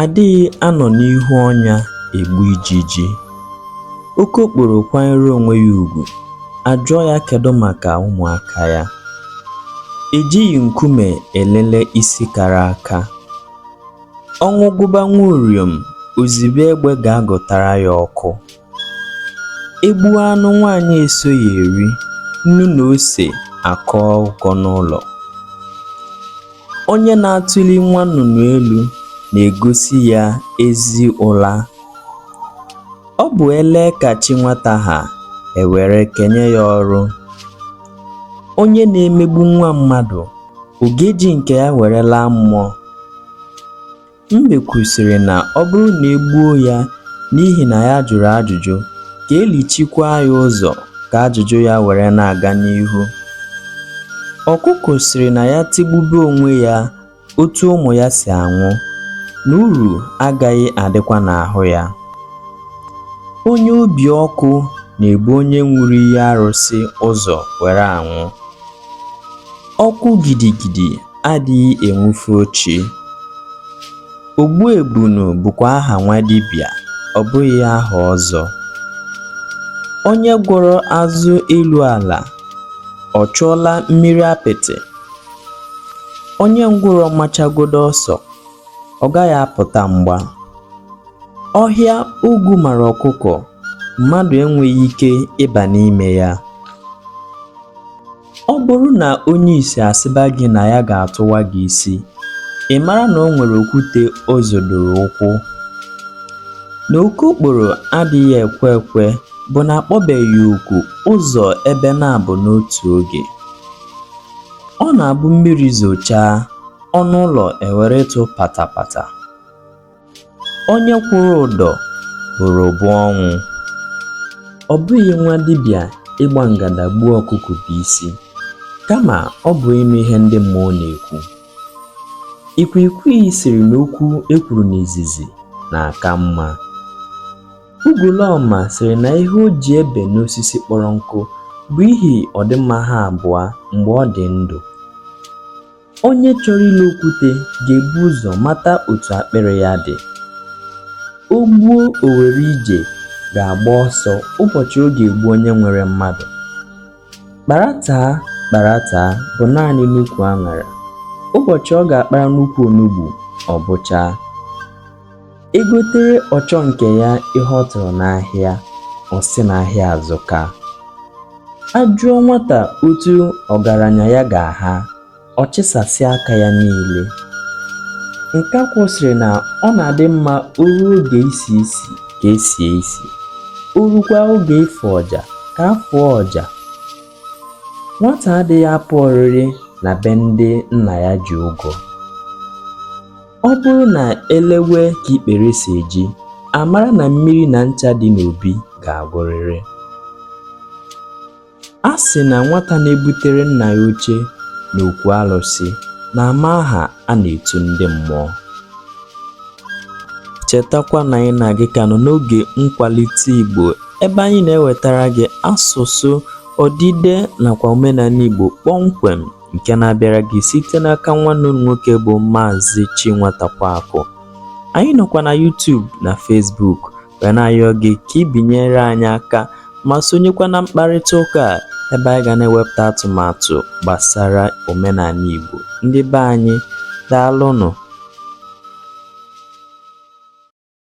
adịghị anọ n'ihu ọnya egbu ijiji okokporo kwanyere onwe ya ugwu a jụọ ya kedu maka ụmụaka ya ejighị nkume elele isi kara aka ọnwụ gụba nwa uriom o zibe egbe ga-agụtara ya ọkụ E gbuo anụ nwaanyị esoghị eri, nnu na ose akọọ ụkọ n'ụlọ. Onye na-atụli nwa nnụnụ elu na-egosi ya ezi ụla. Ọ bụ e lee ka chi nwata ha e were kenye ya ọrụ. Onye na-emegbu nwa mmadụ, ọ ga-eji nke ya were laa mmụọ? Mbe kwusịrị na ọ bụrụ na e gbuo ya n'ihi na ya jụrụ ajụjụ, ka e lichikwaa ya ụzọ ka ajụjụ ya were na-aga n'ihu. Ọkụkụ sịrị na ya tigbube onwe ya otu ụmụ ya si anwụ, na uru agaghị adịkwa n'ahụ ya. Onye obi ọkụ na-ebu onye ṅụrụ iyi arụsị ụzọ were anwụ. Ọkụ gidigidi adịghị enwufe ochi. Ogbuebunu bụkwa aha nwa dibịa, ọ bụghị aha ọzọ. Onye gwọrọ azụ elu ala, ọ chụọla mmiri apịtị. Onye ngwụrọ machagodo ọsọ, ọ gaghị apụta mgba. Ọhịa ogwu mara ọkụkụ, mmadụ enweghị ike ịba n'ime ya. Ọ bụrụ na onye isi asịba gị na ya ga-atụwa gị isi, ị mara na o nwere okwute o zodoro ụkwụ. Na okokporo adịghị ekwe ekwe bụ na a kpọbeghị oku ụzọ ebe naabọ n'otu oge. Ọ na-abụ mmiri zochaa, ọnụ ụlọ ewere ịtụ patapata. onye kwụrụ ụdọ bụrụ bụ ọnwụ ọ bụghị nwa dibịa ịgba ngada gbuo ọkụkụ bụ isi kama ọ bụ ịnụ ihe ndị mmụọ na-ekwu ikwikwii sịrị na okwu e kwuru n'izizi na-aka mma ugolọma sịrị na ihe o ji ebe n'osisi kpọrọ nkụ bụ ihi ọdịmma ha abụọ mgbe ọ dị ndụ Onye chọrọ ilo okwute ga-ebu ụzọ mata otu akpịrị ya dị. O gbuo o were ije ga-agba ọsọ ụbọchị ọ ga-egbu onye nwere mmadụ. Kparataa kparataa bụ naanị n'ukwu aṅara. Ụbọchị ọ ga-akpara n'ukwu onugbu, ọ bụchaa. e gotere ọchọ nke ya ihe ọ tụrụ n'ahịa ọ sị na ahịa azụka a jụọ nwata otu ọgaranya ya ga-aha ọ chịsasịa aka ya niile nkakwụ sịrị na ọ na-adị mma o ruo oge isi isi ka e sie isi o rukwa oge ịfụ ọja ka a fụọ ọja nwata adịghị apụ oriri na be ndị nna ya ji ụgwọ Ọ bụrụ na e lewe ka ikpere si eji, a mara na mmiri na ncha dị n'obi ga-agwụrịrị. A sị na nwata na-ebutere nna ya oche n'okwu alụsị na-ama aha a na-etu ndị mmụọ. Chetakwa na anyị na gị ka nọ n'oge nkwalite Igbo ebe anyị na-ewetara gị asụsụ, odide nakwa omenala Igbo kpọmkwem. nke na-abịara gị site n'aka nwanne unu nwoke bụ Maazị Chinwatakwaakụ. Anyị nọkwa na YouTube na Facebook wee na-ayọ gị ka ị binyere anyị aka ma sonyekwa na mkparịta ụka a ebe anyị ga na-ewepụta atụmatụ gbasara omenala Igbo. Ndị be anyị, daalụnụ!